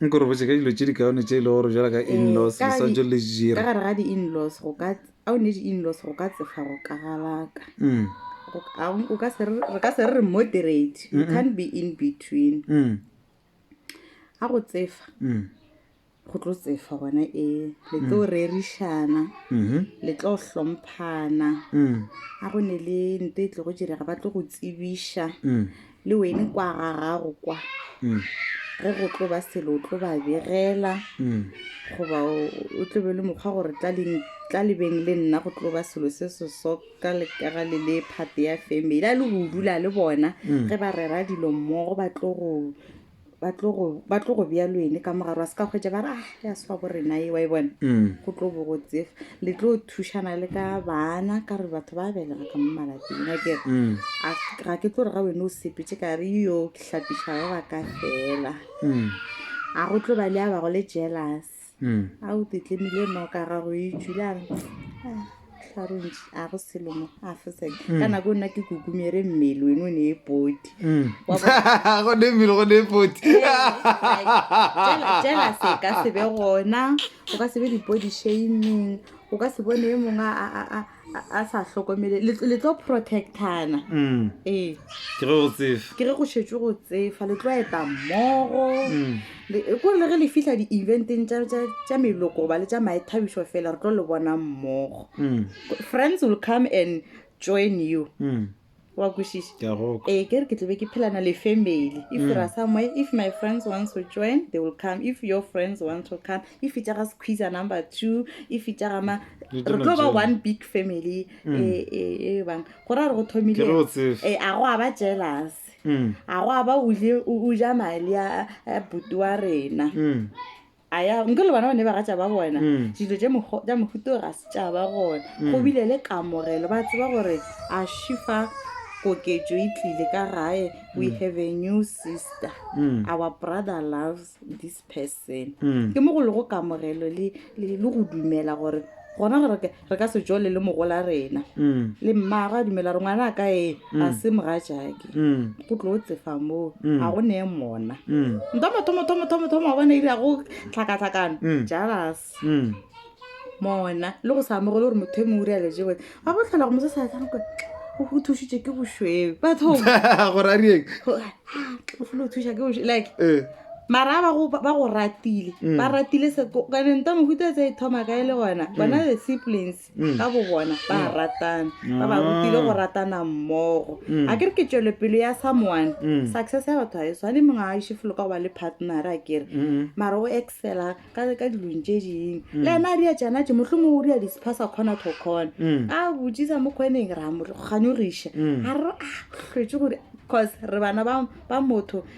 Nko re botše ka dilo tše di kaone tše e le gore jala ka eh, in-laws le swantse le jira. Ka gare ga di-in-laws go ka a o ne di-in-laws go ka tsefa go kagalaka. Mm. O ka se re ka se re moderate. You can't be in between. Mm. A go tsefa. Mm. go tlo tsefa gona e le tlo mm. rerišana mm-hmm. le tlo hlomphana mm. a go ne le nto e tlo go direga ba tlo go tsebiša mm. le wene kwa ga gago kwa mm. ge go tlo ba selo o tlo ba begela mm. goba o tlo be le mokgwa gore tla lebeng le nna go tlo ba selo se se soka lekega le le phate ya family a le go dula le bona mm. ge ba rera dilo mmogo ba tlo go ba tlo go ba tlo go bjalo ene ka mogare wa se ka kgwetsa ba re ah ya swa bo rena e wa e bona Mm. go tlo bo go tsefa le tlo thušana le ka bana ka re batho ba belega ka mo malapeng a kere Mm. a ga ke tlo re ga wena o sepetse ka re yo ke hlapiša ba ba ka fela Mm. a go tlo ba le a bago le jealous mm. a o tetlemile noka gago e tšwile a tlarontši a go selomo a fosek mm. ka nako nna ke kukumere mmele wene o ne e poti mm. gone mmele gone e poti jela se ka sebe gona o ka sebe dipodi shaming o ka se bone e mongwe a sa hlokomele le tlo protectana mm. ee ke re go tsefa ke re go šetšwe go tsefa le tlo eta mmogo mm. ko le re le fihla di-eventeng tša meloko goba le tša maethabišo fela re tlo le bona mmogo mm. friends will come and join you wa kwešiša Ke a go kwa. ee ke re ke tlobe ke phelana le family if ra somewhere if my friends wants to join they will come if your friends want to come if e tšaga squeezer number two if e tšaga ma Re re tlo tlo ba tšela. one big family e e- e bang go ra re go Ke re o tsebe. thomile a go a ba jealous Mm. a go a ba o je- o o ja mali a a buti wa rena Mm. aya nke le bana ba ne ba gatša ba bona mm. dilo tša mohuto ga se tša ba gona mm. go bile le kamogelo ba tseba gore a shifa koketšo e tlile ka gae we mm. have a new sister our brother loves this person ke mo go le go kamogelo le go dumela gore gona gore re ka se tšole le mogola rena Mm. le mmago a dumela gore ngwana a ka e ga se mogajake Mm. go tlo tsefa moo Mm. ga go neye mona Mm. ntomotomotomotomotomo wa bona ile ya go tlhakatlhakano Mm. jalas Mm. mona le go sa amogele gore motho e mongwe re aletse bone ga go tlhola go mosesa tsanko o thušitše ke bošweu batho gore a rieng o folo thuša ke bošweu like Eh. mara ba go ba go ratile Mm. ba ratile se ko- ka ne nta mohuta tse e thoma kae le gona bona the siblings Mm. ka bo bona ba ratana ba ba Ah. rutile go ratana mmogo Mm. a ke re ke tšwelopele ya someone Mm. success ya batho ga e tshwane mongwe a iše folo ka go ba le partner a kere Mm. mara o excela ka ka dilong tše dingwe le ena a ria tšana tše motlho mongwe o ria disphasa kgona to kgona Mm. a botsisa mo kgoneng ra mo kganyogiša Mm. a re a hlwetse gore cause re bana ba ba motho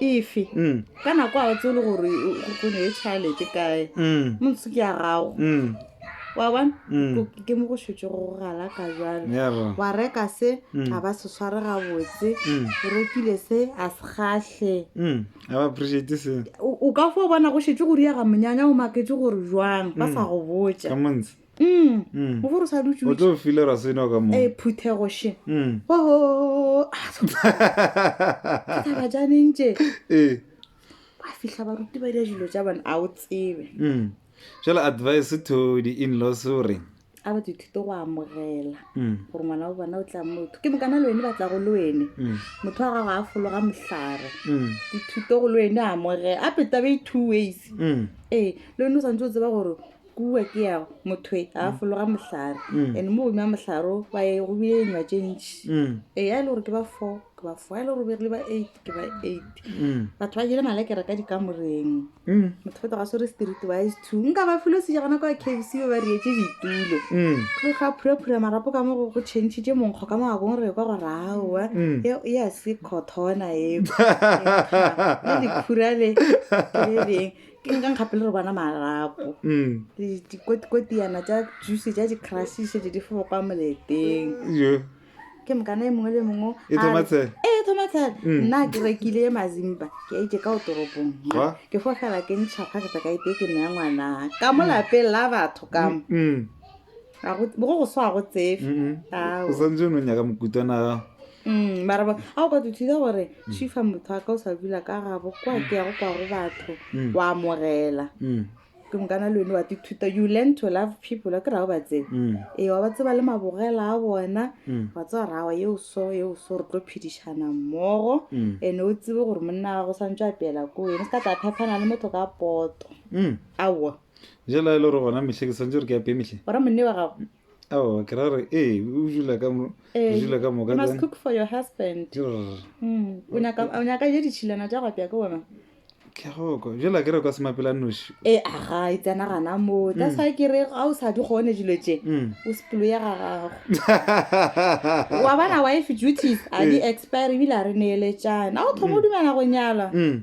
efe ka nako a tse e le gore go ne e tšhalete kae montse ke ya gago wa bona ke mo go šetse go galaka jalo wa reka se a ba se sware gabotse o rekile se a se gahle o ka fo bona go šetse go riaga monyanya o maketse gore jwang ba sa go botsa o bo re sa dutšeo tlo file ra seno ka mo e phuthego she oho ka ba janeng tše e ba fihla ba ruti ba dira dilo tša bana a o tsebe jela advice to the in laws o reng a ba dithito go amogela gore ngwana wa bona o tla motho ke mokana le wene ba tla go le wene motho wa gago a fologa mohlare dithito go le wene amogela a peta ba two ways ee le wene o santse o tseba gore kua ke yago mothoe a mm. fologa mohlare mm. and mo godimo ya mohlare o ba ye go bile enywa tše ntši mm. e ya e le gore ke ba four ke ba four ya e le gore bere le ba eight ke ba eight batho ba jele malekere ka dikamoreng motho feta ga swere street ba is two nka ba filo seja gona kwa kfc ba ba rietse ditulo go ga phuraphura marapo ka mo go go changitše monkgo ka mogakong re kwa go raowa e ya se cothona eo le diphurale le leng ke nka nkgape le re bona marapo dikotikotiyana tsa juice ja di-crush šete di fo kwa moleteng ke mokana e mongwe le mongwe e thoma tshela nna ke rekile ye mazimba ke a itse ka o toropong ke fo fela ke ntšhapa ke tsaka ete ke neya ngwana ka mo lapeng la batho kamo go go swa go tsefe o santse o ne o nyaka mokutwana Mm, mara ba- a o ka tuthida gore chifa motho a ka o sa dula ka gabo kwa ke yago kwa go batho Mm. wa amogela Mm, ke mokana le one wa tithuta you learn to love people a ke rago ba tsebe mm, ee wa ba tseba le mabogela a bona mm, wa tseba rawa yeo so yeo so re tlo phedišana mmogo mm, ene o tsebe gore monna wa gago swantse a pela ko ene se ka tla phephana le motho ka poto mm. aowa jela e le gore gona metlhe ke swantse gore ke ape metlhe ora monne wa gago Oh, ke ra re ee o dula ka mo Eh, o dula ka moka you must then- cook for your husband Grr. Mm, o nyaka o nyaka je ditšhilana tša go apea ke wena ke a go kwa jela ke re kwa semapela noši e aga e tsena gana moo that's why ke re ga o sa di kgone dilo tše Mm. o sepelo ya ga gago wa bona wife duties a di expire ebile a re neeletšana a o thoma o dumela go nyala Mm.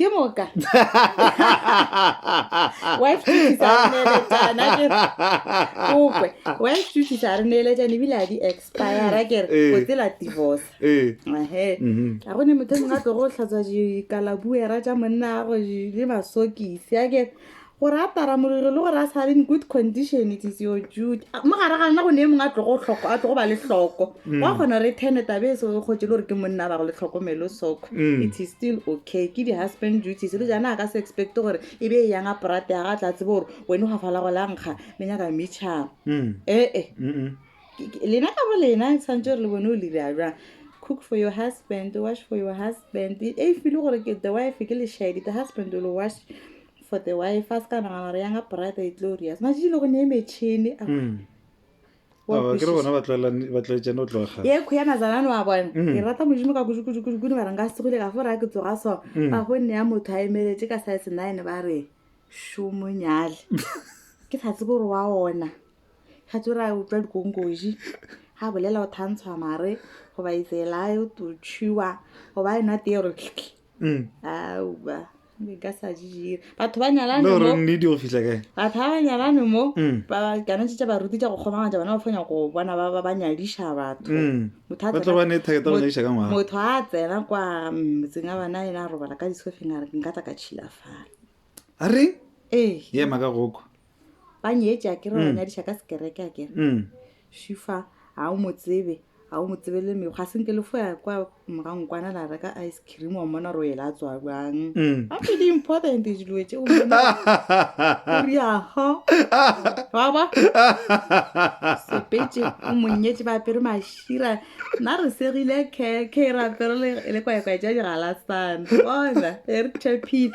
ke moka wa itušisa re neeletšana ke kope wa itušisa re neeletšana ebile a di expira ke re Eh. o tsela divorce Eh, ehe mhm. ga go ne motho o mongwe a tlogo tlhatswa dikalabuera tša monna gago le masokisi a ke gore a tara molelo le gore a sa le in good condition it is your duty A- mo gare gana go ne e mongwe a tlogo hloko a tlogo ba le hloko wa kgona gore e tene tabe e se o kgotse le gore ke monna ba go le tlhokomelo soko Mm. it is still okay ke di-husband duties le jana a ka se expecte gore e be e yang a prate ya ga tla tsebo gore wene ga fala go la nkga le nyaka metšhang Mm. ee Mm-mm. Ke- ke- lena ka bo lena santse re le bone o le dira jang cook for your husband wash for your husband e e file gore ke the wife ke lešedi the husband will wash for the wife a se ka nagana gore yanga brother e glorious matšatši le go ne e metšhini a mm. Wa Oh, ke re kwešiša. bona ba tlwaelane- ba tlwaetšane go tloga kgale. ye kho ya mazalane wa bona Mm. ke rata modimo ka kudukudukudukudu ba re nka segole ka fo raya ke tsoga so Mm. ba go nne ya motho a emeletse ka size nine ba re šomonyale ke sa tsebe gore wa ona ga tse ra utlwa dikonkoji ga bolela o thantshwa mare goba itsela e to chewa goba e nwa tee gore Mm. auba nka sa di dira batho ba nyalane le gore mo nnete go fitlha kae batho ba ba nyalane mo Mm. ba ba- kana tse tsa baruti tša go kgomagantša bona ba fanya go bona ba ba- ba nyadiša batho Mm. Motho a ba tlo tsena- ba ne target ya go mot- nyadiša ka ngwaga motho a tsena kwa mm, motseng a bana ena a robala ka disofeng a re nka tla ka tšhilafala a reng ee ye maka goko ba nyetša ke re ba Mm. nyadiša ka sekereke a kere Mm. šifa ga o mo tsebe ga o mo tsebe le mekgo ga senke le foya kwa morang kwana la reka ice cream wa mmona gore o ela a tswa bjang Mm. ga pretty important dilo tše o mmona gore yago wa ba sepetse o monyetše ba apere mašira nna re segile keke ra apere le- le kwaekwae ja digalasane bona e re tepile